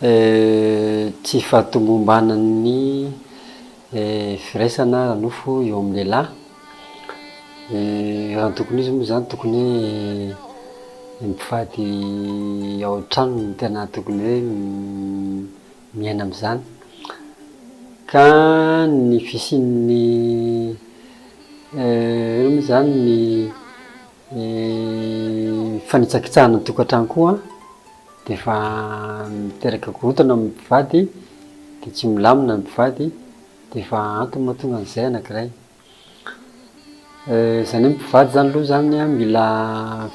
Tsy fahatomombanan'ny firaisana ara-nofo eo amin'ny lehilahy. Raha ny tokony ho izy moa izany, tokony hoe mpivady ao an-tranony no tena tokony hoe miaina amin'izany. Ka ny fisian'ny, inona moa izany, ny fanitsakitsahana ny tokantrano koa. dia efa miteraka korontana amin'ny mpivady dia tsy milamina ny mpivady dia efa antony mahatonga an'izay anankiray eh, izany hoe mpivady zany aloha zany mila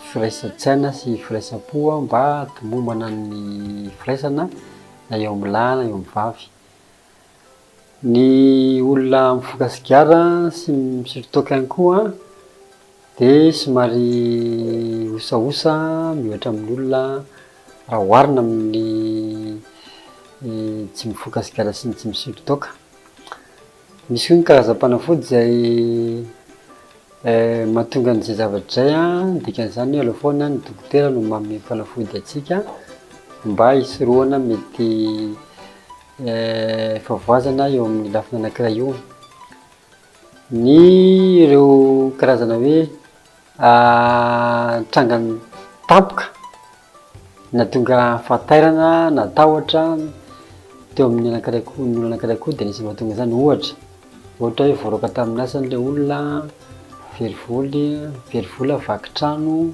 firaisan-tsaina sy firaisam-po mba hatomombana ny firaisana na eo amin'ny lahy na eo amin'ny vavy Ny olona mifoka sigara sy misotro toaka ihany koa dia somary osaosa miohatra amin'ny olona raha oharina amin'ny tsy mifoka sigara sy ny tsy misotro toaka. Misy koa ny karazam-panafody izay mahatonga an'izay zavatra izay an, ny dikan'izany aloha foana ny dokotera no manome fanafody antsika mba hisorohana mety efa voazana eo amin'ny lafiny anankiray io ny ireo karazana hoe trangan'ny tampoka na tonga fahatairana na tahotra teo amin'ny anankiray koa ny olona anankiray koa dia anisany mahatonga izany ohatra ohatra hoe voaroaka tamin'ny asany ilay olona very voly very vola vaky trano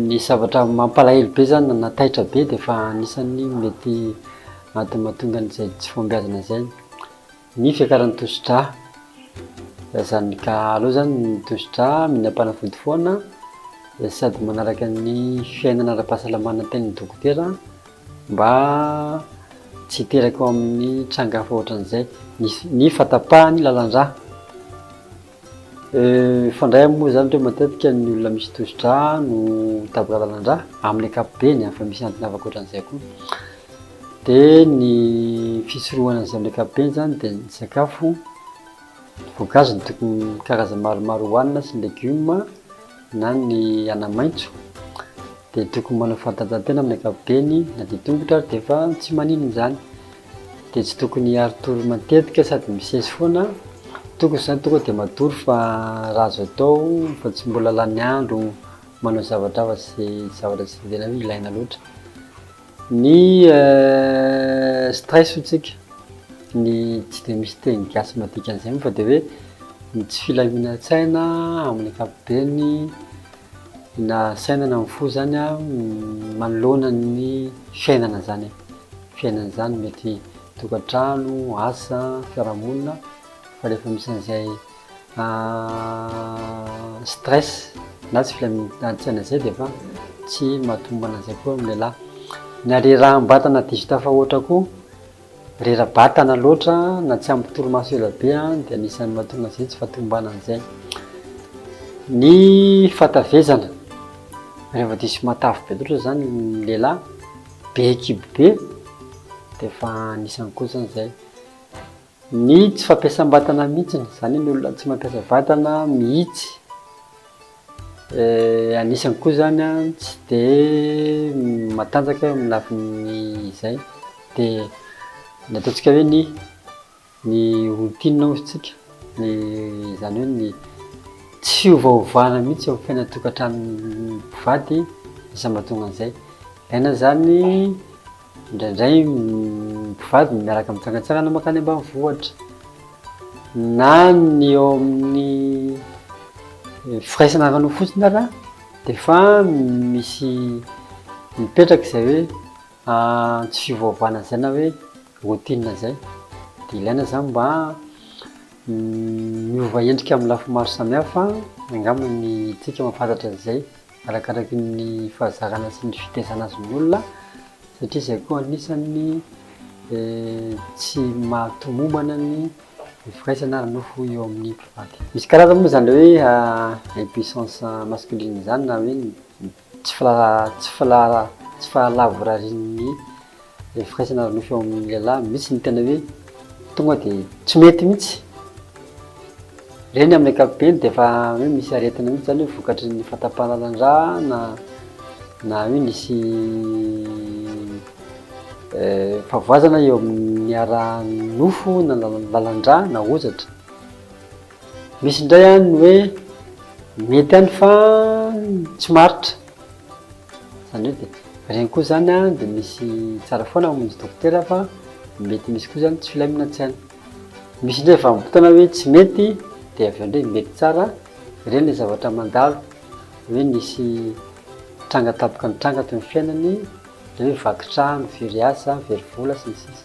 Ny zavatra mampalahelo be zany na taitra be dia efa anisan'ny mety antony mahatonga an'izay tsy fahombiazana izay ny fiakaran'ny tosidra. Dia zany ka aleo zany ny tosidra mila mpanafody foana dia sady manaraka ny fiainana ara-pahasalamana tenin'ny dokotera mba tsy hiteraka ao amin'ny tranga hafa ohatran'izay ny ny fahatapahan'ny lalan-drà. Mifandray moa izany hoe matetika ny olona misy tosi-drà no taboka lalan-drà amin'ny ankapobeny fa misy antony hafa ankoatran'izay koa. Dia ny fisorohana an'izay amin'ny ankapobeny izany dia ny sakafo voankazo no tokony karazany maromaro hohanina sy ny legioma na ny anamaitso dia tokony manao fanatanjahantena amin'ny ankapobeny na dia tongotra ary dia efa tsy maninona izany. dia tsy tokony hiaro tory matetika sady misesy foana, tokony izany tonga dia matory fa raha azo atao fa tsy mbola lany andro manao zavatra hafa sy zavatra tsy tena hoe ilaina loatra ny stress hoy tsika, ny tsy dia misy teny gasy madika an'izay moa fa dia hoe ny tsy filaminan-tsaina amin'ny ankapobeny na saina na fo izany manoloana ny fiainana izany e. fiainana izany, mety tokantrano, asa, fiarahamonina, fa rehefa misy an'izay stress na tsy filaminantsaina izay dia efa tsy mahatombana an'izay koa ny lehilahy. Ny hareraham-batana diso tafahoatra koa, rera-batana loatra na tsy ampy torimaso ela be dia anisan'ny mahatonga an'izay tsy fahatombana an'izay. Ny fahatavezana, rehefa diso matavy be loatra izany ny lehilahy. be kibo be dia efa anisany koa zany zay ny tsy fampiasam-batana mihitsiny zany ny olona tsy mampiasa vatana mihitsy eh, anisany koa zany a tsy de matanjaka eo amin'ny lafiny izay dia ny ataontsika hoe ny Ny routine hozy tsika, ny izany hoe ny tsy fiovaovana mihitsy eo amin'ny fiainan'ny tokantranon'ny mpivady lasa mahatonga an'izay. Ilaina izany indraindray ny mpivady ny miaraka mitsangantsangana mankany ambanivohitra, na ny eo amin'ny firaisana ara-nofo fotsiny ary an, dia efa misy mipetraka izay hoe tsy fiovaovana izay na hoe. Routine izay dia ilaina izany mba miova endrika amin'ny lafiny maro samihafa angamba ny tsika mahafantatra an'izay arakaraky ny fahazarana sy ny fitaizana azy ny olona satria izay koa anisan'ny eh, tsy mahatomombana ny firaisana ary nofo eo amin'ny mpivady misy karazana moa izany hoe ah, impuissance masculine izany na hoe Tsy tsy filara tsy fahalavorarian'ny ilay firaisana ara-nofo eo amin'ny lehilahy mihitsy ny tena hoe tonga dia tsy mety mihitsy. Ireny amin'ny ankapobeny dia efa hoe misy aretina mihitsy izany hoe vokatry ny fahatapahan-draha na na hoe nisy fahavoazana eo amin'ny ara-nofo na lalan-draha na hozatra. Misy indray an ny hoe mety any fa tsy maritra, zany hoe de regny koa zany an de misy tsara foana mamonjy dokotera fa mety misy koa zany tsy filamina tsy any, misy ndray vanimpotoana hoe tsy mety de avy eo ndray mety tsara, regny le zavatra mandalo hoe nisy tranga tampoka nitranga teo am fiainany, ndre hoe vaky trano, very asa, very vola sy ny sisa.